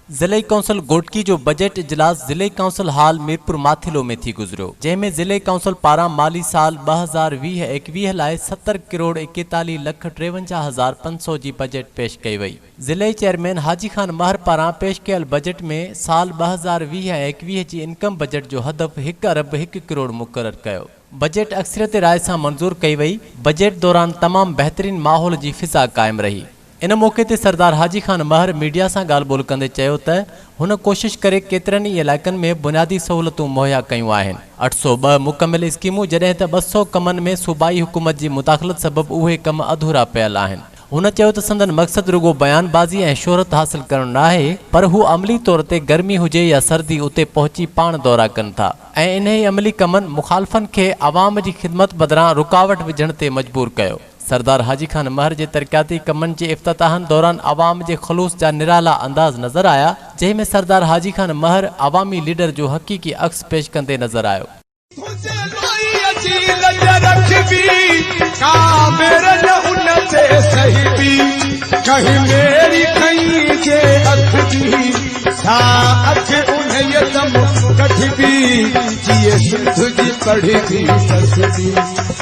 ضلعي ڪائونسل گهوٽڪي جو بجيٽ اجلاس ضلعي ڪائونسل هال ميرپور ماٿيلو ۾ ٿي گذريو جنهن ۾ ضلعي ڪائونسل پاران مالي سال ٻه هزار ويهه ايڪويهه لاء ستر ڪروڙ ايڪيتاليهه لک ٽيونجاهه هزار پنج سؤ جي بجيٽ پيش ڪئي وئي ضلعي چيئرمين حاجي خان مهر پاران پيش ڪيل بجيٽ ۾ سال ٻه هزار ويهه ۽ ايڪويهه جي انڪم بجيٽ جو هدف هڪ ارب هڪ ڪروڙ مقرر ڪيو بجيٽ اڪثريت راء سان منظور ڪئي وئي بجيٽ دوران تمام بهترين ماحول جي فضا قائم رهي. ان موقعي تي سردار حاجي خان مهر ميڊيا سان ڳالهه ٻولهه ڪندي چيو ته هن ڪوشش ڪري ڪيترن ئي علائقن ۾ بنيادي سهولتون مهيا ڪيون آهن، اٺ سؤ ٻه مڪمل اسڪيمون جڏهن ته ٻه سؤ ڪمن ۾ صوبائي حڪومت جي مداخلت سبب اهي ڪم اڌورا پيل آهن، هن چيو ته سندن مقصد رڳو بيان بازي ۽ شهرت حاصل ڪرڻ ناهي پر هو عملي طور تي گرمي هجي يا سردي اتي پهچي پاڻ دورا ڪن ٿا ۽ انهي عملي ڪمن مخالفن کي عوام جي خدمت بدران رڪاوٽ وجهڻ تي مجبور ڪيو. سردار حاجي خان مهر جي ترقياتي ڪمن جي افتتاحن دوران عوام جي خلوص جا نرالا انداز نظر آيا، جنهن ۾ سردار حاجي خان مهر عوامي ليڊر جو حقيقي عڪس پيش ڪندي نظر آيو.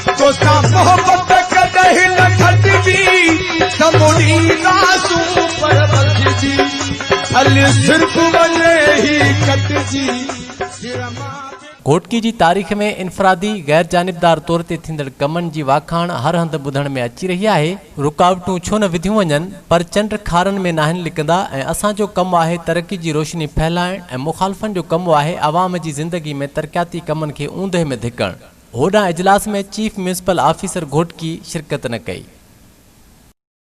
توسان محبت ڪڏهن نه کٽجي ته مڙي راسون پر ٻڌجي ڀلي سرڪ وڃي هي ڪٽجي سر مان گهوٽڪي جي تاريخ ۾ انفرادي، غير جانبدار طور تي ٿيندڙ ڪمن جي واکاڻ هر هنڌ ٻڌڻ ۾ اچي رهي آهي. رڪاوٽون ڇو نه وڌيون وڃن پر چنڊ کارن ۾ ناهن لڪندا ۽ اسان جو ڪم آهي ترقي جي روشني ڦهلائڻ ۽ مخالفن جو ڪم آهي عوام جي زندگي ۾ ترقياتي ڪمن کي اوندهه ۾ ڌڪڻ. هوڏانهن اجلاس ۾ چيف ميونسپل آفيسر گهوٽڪي شرڪت نه ڪئي.